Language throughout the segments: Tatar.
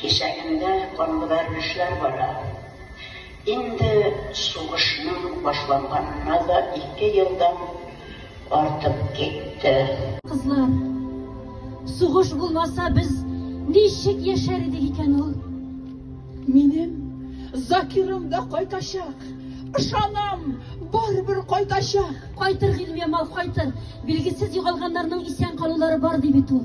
Кисәгендә канбәрелешләр бара. Инде сугышның башланганына да ике елдан артып китте. Кызлар, сугыш булмаса, без ничек яшәр идек икән ул? Минем Закирым да кайтачак. Ышанам, барыбер кайтачак. Кайтыр, Гыйльмиямал, кайтыр. Билгесез югалганнарның исән калулары бар, ди бит ул.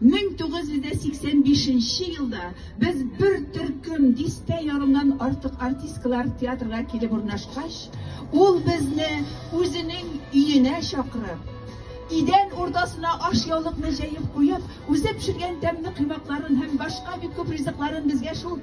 1985 нче елда без бер төркем дистә ярымнан артык артисткалар театрга килеп урнашкач, ул безне үзенең өенә чакырып, идән уртасына ашъяулыкны җәеп куеп, үзе пешергән тәмле коймакларын һәм башка бик күп ризыкларын безгә шул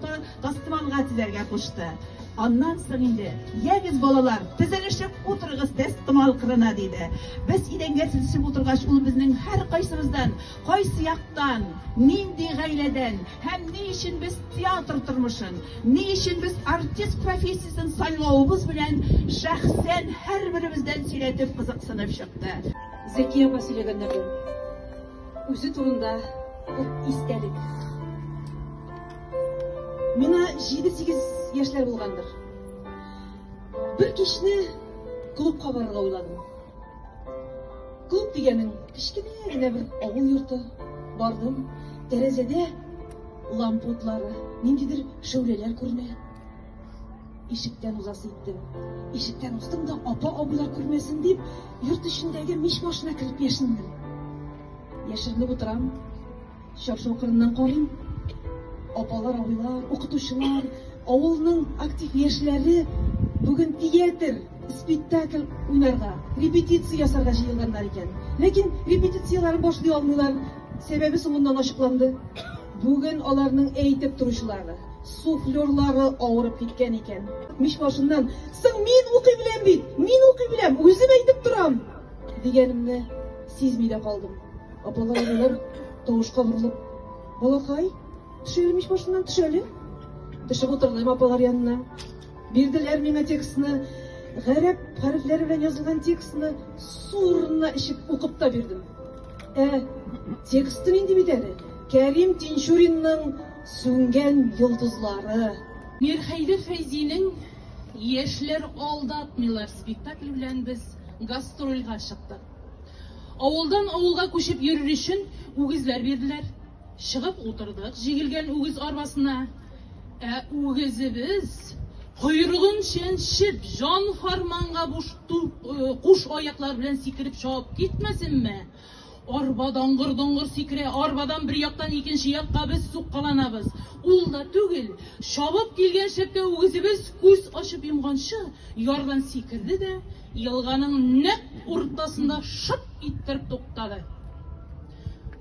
Тастыманга тезәргә кушты. Аннан соң инде, Ягез, балалар, тезелешеп утырыгыз тәстымал кырына, диде. Без идәнгә тезешеп утыргач, ул безнең һәркайсыбыздан, кайсы яктан, нинди гаиләдән һәм ни өчен без театр тормышын, ни өчен без артист профессиясен сайлавыбыз белән шәхсән һәрберебездән сөйләтеп, кызыксынып чыкты. Зәки апа сөйләгәннәрдән үзе турында ук истәлек. Миңа җиде-сигез яшьләр булгандыр. Бер кичне клубка барырга уйладым. Клуб дигәнең кечкенә генә бер авыл йорты. Бардым, тәрәзәдә лампа утлары, ниндидер шәүләләр күренә. Ишектән узасы иттем. Ишектән узтым да, апа-абыйлар күрмәсен дип, йорт эчендәге мич башына кереп яшендем. Яшеренеп утырам. Чаршау кырыннан карыйм. Апалар, абыйлар, укытучылар, авылның актив яшьләре бүген театр, спектакль уйнарга, репетиция ясарга җыелганнар икән. Ләкин репетицияләрен башлый алмыйлар, сәбәбе соңыннан ачыкланды. Бүген аларның әйтеп торучылары, суфлерлары авырып киткән икән. Мич башыннан, Соң мин укый беләм бит, мин укый беләм, үзем әйтеп торам! дигәнемне сизми дә калдым. Апалар, аналар тавышка борылып, балакай, төшәле мич башыннан, төшәле. Төшеп утырдым апалар янына. Бирделәр миңа текстны, гарәп хәрефләре белән язылган текстны сурына ишеп укып та бирдем. Ә тексты нинди бит әле? Кәрим Тинчуринның сүнгән йолдызлары. Мирхәйдер Фәйзинең Яшьләр алдатмыйлар спектакль белән без гастрольгә чыктык. Авылдан авылга күчеп йөрер өчен үгезләр бирделәр. Чыгып утырдык җигелгән үгез арбасына. Ә үгезебез, койрыгын чәнчеп, җан-фарманга буш куш аяклар белән сикереп чабып китмәсенме! Арба даңгыр-доңгыр сикерә, арбадан бер яктан икенче якка без суккаланабыз. Ул да түгел, чабып килгән шәпкә үгезебез күз ачып йомганчы ярдан сикерде дә, Елганың нәкъ уртасында шып иттереп туктады.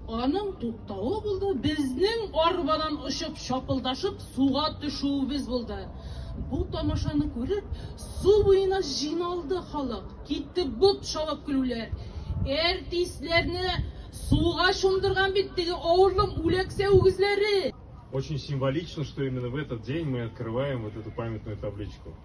Аның туктавы булды, безнең арбадан очып, шапылдашып суга төшүебез булды. Бу тамашаны күреп, су буена җыйналды халык. Китте бот чабып көлүләр. Әртисләрне суга чумдырган бит теге авырлым үләксә үгезләре! Очень символично, что именно в этот день мы открываем вот эту памятную табличку.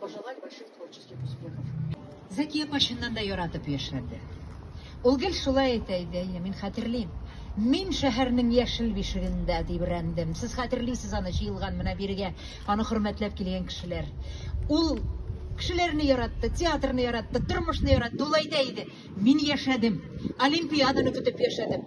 Пожелать больших творческих успехов. Зәки апа чыннан да яратып яшьләрде. Ул гел шулай әйтә иде, әйе, мин хәтерлим. Мин шәһәрнең яшел бишегендә дибрәндем. Сез хәтерлисез аны җыелган менә бирегә, аны хөрмәтләп килгән кешеләр. Ул кешеләрне яратты, театрны яратты, тормышны яратты. Ул әйтә иде, мин яшәдем, Олимпиаданы көтеп яшәдем.